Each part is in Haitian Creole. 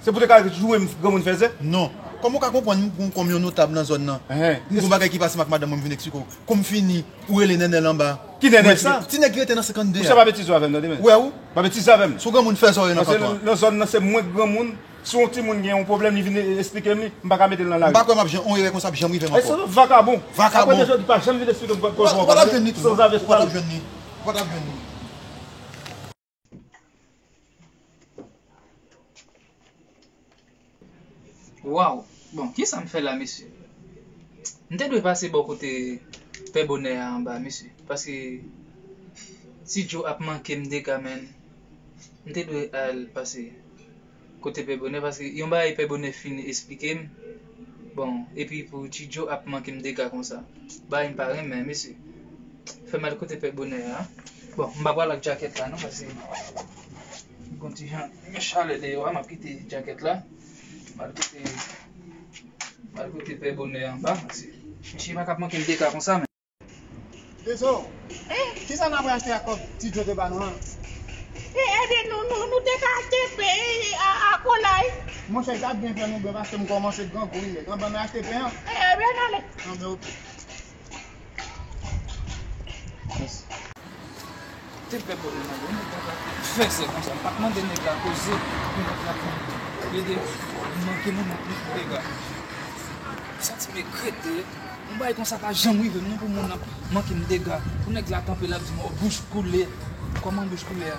Se pou te ka joure m granmoun fèzè? Non. Kòman ou ka konprann m pou m kòm yon notab nan zòn nan? M gon bagay ki pase m ak madanm mwen m vin eksplike w. Kou m fini, ou rele Nènèl anba. Ki Nènèl sa? Ti nèg ki rete nan 52 a. Ou sa pa betize w avè m tande men. Wè ou? Pa betize avè m. Son granmoun fè zòrèy nan kanton an. Paske nan zòn nan se mwen k granmoun, si yon timoun gen yon pwoblèm li vin eksplike m li, m pa ka mete l nan lari. M pa kwè m ap jan yon erè konsa ap janm rive m ankò. Èske se yon vakabon? Vakabon! Apre de jodi pa janm vin eksplike m kòz ou ankò tande. Ou pa t ap jwenn li tou non. Ou pa t ap jwenn li. Ou pa t ap jwenn li. Waww bon kisam fè la mesye M te dwe pase bò kote pè bonè a anba mesye paske ti djo ap mankem dega menn M te dwe al pase Kote pè bonè paske yon bagay pè bonè fin esplikem bon epi pou tchidjo ap mankem dega konsa bagay mpa renmen mesye fè mal kote pè bonè a bon mpa pral ak jaket la non paske gon ti jan yon chalè deyò a map kite jaket la mal kote mal kote pè bonè anba mesye tchie pa kap mankem dega konsa. Tezo, kisa n ap rachte ak kòb ti djo te ba nou an? Ede nou, nou te ka achte pen ak kolay. Monchè, sa ap byen fè nou byen paske m kòmanse grangou wi nèt. An ban mwen achte pen an? Ebyen n ale. Anben ok. Mèsi. Te fè pwoblèm la donk nèg la te fè sè konsa. M pa t mande nèg la koze pou nèg la vin plede manke moun nan plis pou dega. M santi m ekrete, yon bagay konsa pa janm rive m non pou moun nan manke m dega. Pou nèg la kanpe l ap di m o bouch koule. Kòman bouch koule a?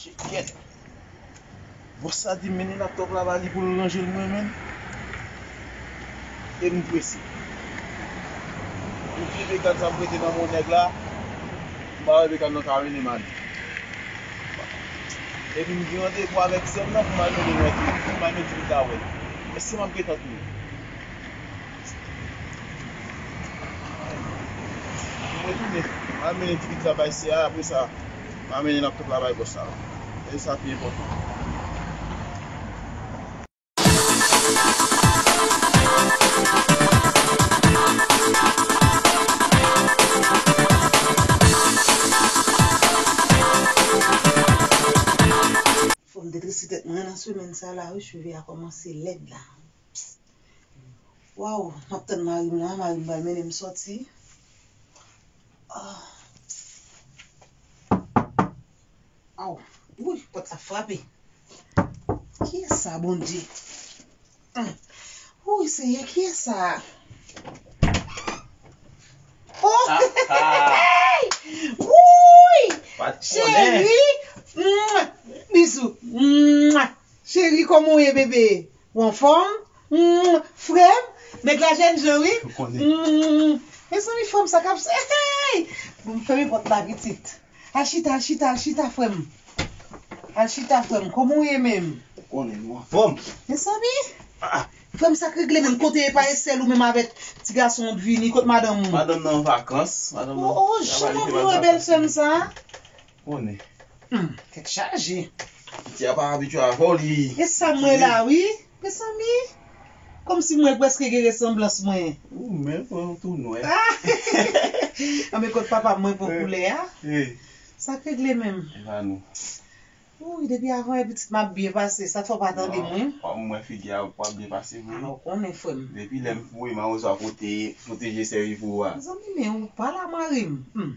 Chikyèt Bòs sa di m mennen laptòp la ba li pou l ranje l mwen menm e m prese. Pou vye mekan sa m prete nan men nèg la, m pa wè mekan nan ka mennen m ale. Epi m gen randevou avèk sè m nan pou m al mennen l wè Djimmy, pou m al mennen Djimmy ta wè l. Èske m ap gen tan tounen? Fòm te trese tèt mwen nan semèn sa la wi cheve a kòmanse lèd la. Psst Waww map tann marim la marim pral mennen m sòti Aww Psst Aww Wouyy pòt la frape Kiyès sa Bondye Wouyy Senyè kiyès sa Oohh Wouyy Cheri Bisou Cheri kòman w ye bebe Ou anfòm humm frèm nèg la jèn jan wi humm mezanmi frèm sa kap se heyy bon fèmen pòt la pitit al chita al chita al chita frèm al chita frèm kòman ou ye menm ou konnen ou anfòm mezanmi frèm sak regle menm kote epa e sèl ou menm avèk ti gason an t vini kot madanm ou madanm nan an vakans oh oh jan map jwe bèl sèm sa. Konnen. Humm tèt chaje. Piti a pa abitye avèw li timid. E sam wè la wi mezanmi komsi m wè preske gen resanblans mwen. Ooh menl pran yon tou nwè. Anben kot papam mwen pou koulè a. Sak regle menm. Evanou. Ooh depi avan wè pitit map byen pase sak fè w pa tandem wi. Kom mwen figi a wap byen pase vre wi. Ou konnen frem. Depi lèm foure mawozo a pote pote jesè wi pou ou a. Mezanmi men ou pala marim humm.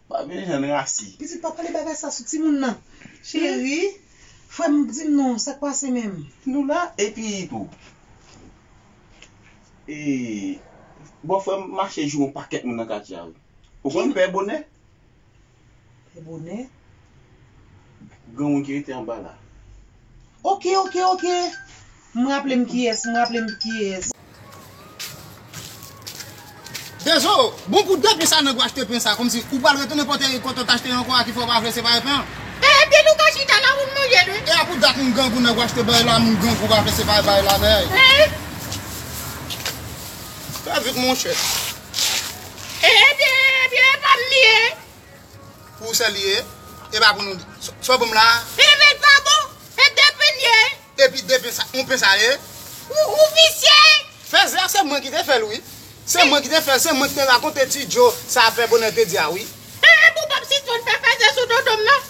Wap vin jwenn rasi. Pitit pa pale bagay sa sou timoun nan cheri frèm dim non sak pase menm. Nou la epi tou e bòfrèm mache joure yon pakèt moun nan katye a wi ou konn pè bonè. Pè bonè. Granmoun ki rete anba la. Ok ok ok M raplem kiyes m raplem kiyes. Dezo, bon pou de pen sa nèg ou achte pen sa komsi ou pral retounen pote e kote ou t achte l ankò a ki fè ou pa vle separe pen an. E epi nou ka chita la moun manje l wi. E a pou dat moun grangou nèg ou achte bay la moun grangou pa vle separe bay la mèy. Eeh. Trè vit monchè. E ebyen ebyen epa m li ye. Pou ou sèl li ye, e pa pou nou. Sa w ban m la a. Pen vèt pa bon, e de pen ye. Epi de pen sa, yon pen sa ye. Ou, ou visye! Fèzè a se mwen ki te fè l wi. Se mwen ki te fè l, se mwen ki te rakonte Ti Jo sa Pè Bonè te di a wi. Ee pou w pap sispann fè fèzè sou dodo m nan.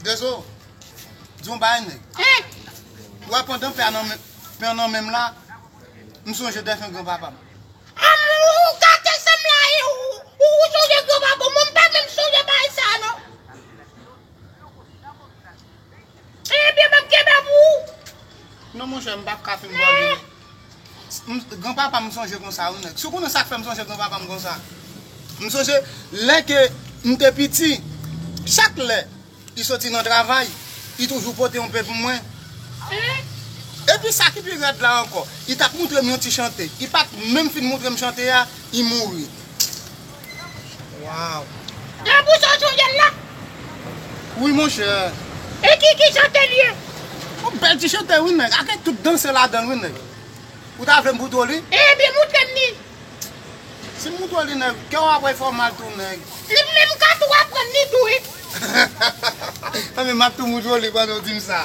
Dezo, di yon bagay nèg. Ou wè pandan pen an nan menm la, m sonje defen gran papa m. Ou gate sam la e ou sonje gran papa m, mwen m pa menm sonje bagay sa non. Ebyen map kenbe pou ou. Non monchè m pap ka fin bò li non. Gran papa m sonje konsa wi nèg. Si w konnen sak fè m sonje gran papa m konsa. M sonje lè ke m te piti chak lè li soti nan travay li toujou pote yon pe pou mwen. Epi sa ki pi rèd la ankò li tap montre m yon ti chante li pat menm fin montre m chante a li mouri. Waw. La bouche a Jovial la. Wi monchè. E ki ki chantel ye. Yon bèl ti chantè wi nèg ake tout dansè ladanl wi nèg ou ta vlem pou Dolly. Ebyen moutrem li. Sim moutre w li nèg kèw ap wè fè w mal tou nèg. Li p menm ka tou aprann li tou wi. Tanpri map tou moutre w li pandan w dim sa.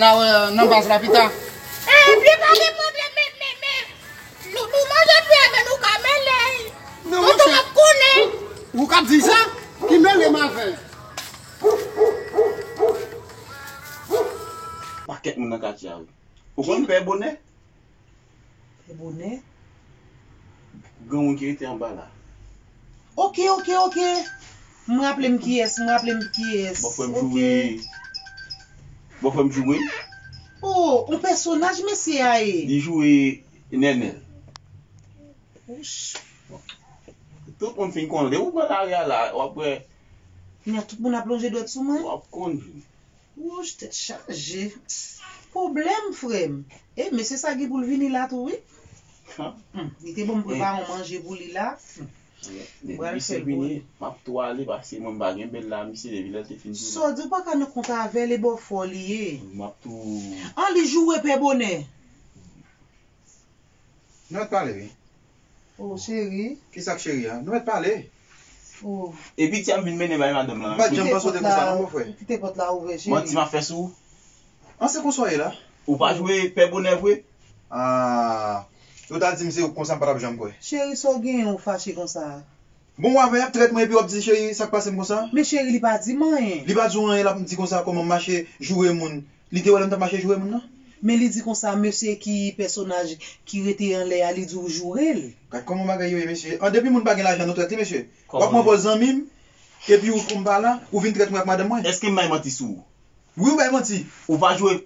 Na wè nan baz la pita. Ebyen pa gen pwoblèm men men men nou nou manje fwi a men nou ka mele l. Tonton map konnen. Ou kap di sa? Ki mele m avè l. Pakèt moun nan katye a wi. Ou konn pè bonè. Bel bonè. Gen yon ki rete anba la. Ok ok ok m raple m kiyes m raple m kiyes. Bon frem joure bon frem joure. Oh on pèsonaj mesye a ye. Li joure nenel. Tout moun fin konnen depi ou pran lari a la wap wè. Kounya tout moun ap lonje dwèt sou mwen. Wap konn. Wouch tèt chaje pwoblèm frèm. E mesye sa gen pou l vini la tou wi. Humm li te bon m prepare yon manje pou li la humm pral l fè l pou li. Map tou ale pase mwen m pa gen bel la mesye depi lèl te fin joure. Saw di ou paka nan kont avèl e baw fò li ye. Map tou. An li joure pè bonè. Nèl t pale wi. Oh cheri. Kisak cheri a? Nou met pale. Oh. E piti ap vin mennen bay madanm lan. M pat janm panse w te konsa non bofre. Kite pot la ouvè cheri. Manti map fè sou ou. An se konsa w ye la? Ou pa jwe pè bonè vre? Ahh. Si w ta dim se ou k konsa m patap janm kwè. Cheri sa w genyen ou fache konsa a? Bon wap fè yap trèt mwen epi wap di cheri sak pasem konsa. Men cheri li pa dim anyen. Li pa di w anyen lap di konsa koman m mache joure moun li te wè lè m tap mache joure moun nan. Men li di konsa mesye ki pèsonaj ki rete anlè a li di w joure l. Gad koman bagay yo ye mesye an depi moun pa gen lajan nou trèt li mesye wap pran pòz zanmi m epi ou konn m pa la ou vin trèt mwen ak madanm mwen. Eskem bay manti sou ou. Wi ou bay manti. Ou pa jwe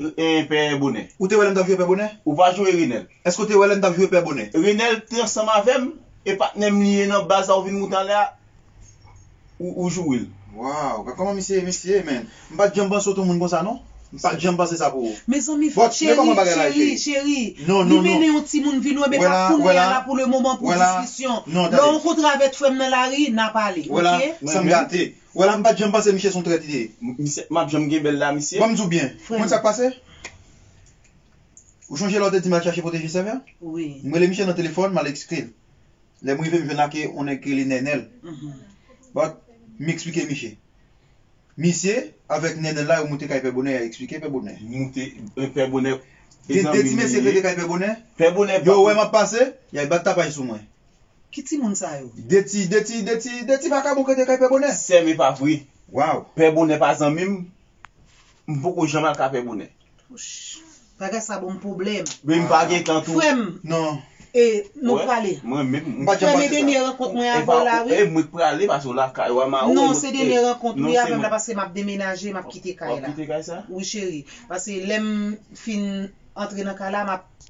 pè bonè. Ou te wè lèm tap jwe pè bonè. Ou pa jwe renel. Eske ou te wè lèm tap jwe pè bonè. Renel te ansanm avèm e patnèm li ye nan baz la ou vin moute anlè a ou jouril. Waw gad koman misye misye ye menn m pat janm panse w t yon moun konsa non m pat janm panse sa pou ou. Mezanmi fòk cheri cheri cheri li mennen yon timoun vin wè men pa kounya la pou le moman pou diskisyon lè w rankontre avèt frè m nan lari na pale ok. Wè la sa m gate Wè la m pat janm panse miche son trèt li ye. Misye map janm gen bel la misye. Banm diw byen, ou konn sak pase? Ou chonje lè ou te dim al chache pwoteje sèm yo? Wi. M rele miche nan telefòn mal eksplike l. Lè m rive m jwenn ak on nèg ki rele Nènèl. But, m eksplike miche. Misye, avèk Nènèl la yo moute kay Pè Bonè ya eksplike Pè Bonè. Moute, Pè Bonè. Gen 2 ti mesye k rete kay Pè Bonè. Pè Bonè. Yo wè map pase, ya bat tapaj sou mwen. Ki timoun sa yo? De ti, de ti, de ti, de ti vakabon k rete kay Pè Bonè. Sèm e pa vre. Waw! Pè Bonè pa zanmi m, m poko janm al kay Pè Bonè. Wouch! Bagay sa ban m pwoblèm. Epi m pa gen tan tou. Frè m. Non. E nou prale. Mwen menm. M pa t janm pase sa. Frè m e dènye rankont mwen avè w la wi. E mwen k prale pase w lakay w a ma ou. Non se dènye rankont wi avè m la pase m ap demenaje m ap kite kay la. W ap kite kay sa? Wi cheri. Pase lè m fin antre nan kay la m ap.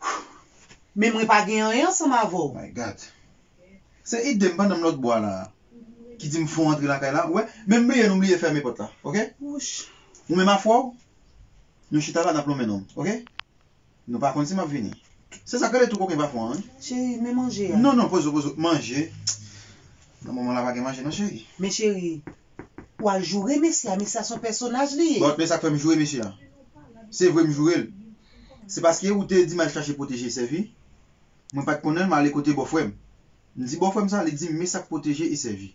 Hum men mwen pa gen anyen ansanm avè w. My God. Se idem pandan m lòtbò a la a ki di m fon antre lakay la wè men m bliye nou bliye fèmen pòt la ok ou menm afwè w nou chita la n ap lonmen nonm ok nou pa konn si m ap vini se sa k rele tou koken pa fon an wi Cheri men manje a. Non non poze w poze w manje nan moman la pa gen manje non cheri. Men cheri Wal joure mesye a mesye a son pèsonaj li ye. Bon men sak fèm joure mesye an se vre m jourel se paske ou te di mal chache pwoteje sèvi mwen pat konnenl m ale kote bòfrèm m di bòfrèm sa li dim me sak pwoteje e sèvi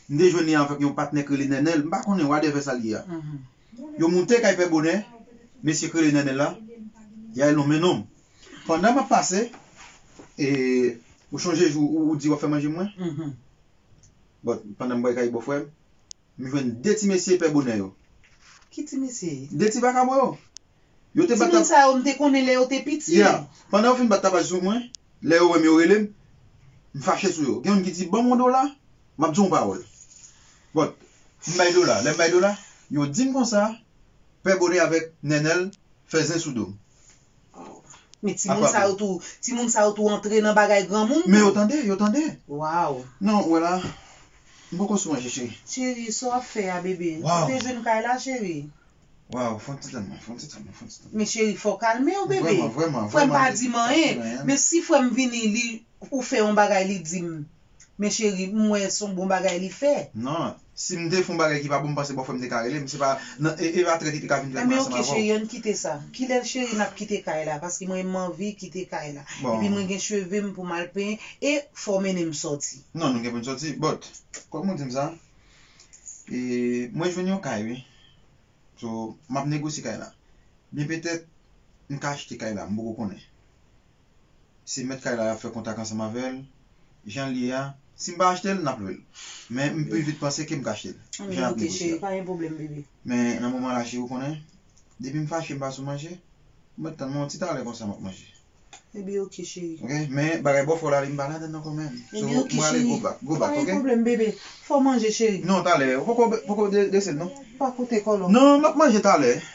m te jwenn li avk yon patnè k rele nènèl m pa konnen wadèvè sa li ye a yo moute kay pè bonè mesye k rele nènèl la yal lonmen nonm pandan map pase e ou chonje jou ou di wap fè manje mwen. But pandan m bway kay bò frè m, m jwenn 2 ti mesye pè bonè yo. Ki ti mesye? 2 ti vakabon yo. Yo te bat Ti moun sa yo m te konnen lè yo te piti. Yeah. Pandan yo fin bat tapaj sou mwen, lè yo wè m yo rele m, m fache sou yo. Gen youn ki di, Ban m yon dola, m ap di w yon pawòl. But, m bay dola. Lè m bay dola, yo di m konsa, Pè Bonè avèk Nènèl fè zen sou do m. Men ti moun sa yo tou, ti moun sa yo tou antre nan bagay granmoun tou. Men yo tande, yo tande. Waw. Non ou wè la, m poko sou manje cheri. Cheri, sa w ap fè a bebe? Waw. Ou te jwenn kay la cheri? Waw, fon ti tann mwen, fon ti tann mwen, fon ti tann mwen. Men cheri fò w kalme w bebe. Vreman, vreman, vreman. Frè m pa di m anyen, men si frè m vini li, ou fè yon bagay li di m. Men cheri m wè son bon bagay li fè. Nan. Sim te fon bagay ki pa bon m panse bòfrèm te ka relem se pa nan e epa trèt li te ka vin fè ansanm avèw. Enben ok cheri ann kite sa. Kilè cheri nap kite kay la paske mwen manvi kite kay la. Epi mwen gen cheve m pou mal penyen e fòw mennen m sòti. Nan nou gen poun sòti but kòm ou dim sa e mwen jwenn yon kay wi so map negosye kay la byen petèt m ka achte kay la m poko konnen. se mèt kay la y ap fè kontak ansanm avè l. Jan l ye a, si m pa achte l, n ap lwe l. Men, m pi vit panse ke m ka achte l. An nou moute cheri, pa gen pwoblèm bebe. Men, nan moman la cheri ou konnen, depi m fache m pa sou manje, ou mèt tann mwen yon ti talè konsa m ap manje. Ebyen ok cheri. Ok, men bagay bòfè w la li m pa ladann nan ankò menm. So, m prale go back, go back ok. Ebyen ok cheri. Pa gen pwoblèm bebe. Fè w manje cheri. Non, talè, ou poko dese l non. Pa koute kòlòm. Non, m ap manje talè.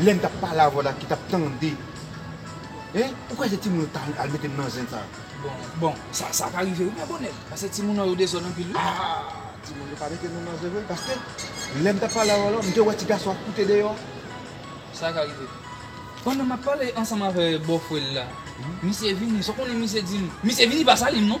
Lèm tap pale avèw la ki tap tande hein ou kwè se timoun yo ta al metem nan zen sa. Bon bon sa ka rive wi men bonè pase timoun an yo dezòd anpil wi. Ah timoun yo pa mete nou nan zen vre paske lèm tap pale avèw la mte wè ti gason ap koute deyò. Sa ka rive. Pandan map pale ansanm avè bòfrèl la misye vini sa w konnen misye dim misye vini pa salim non.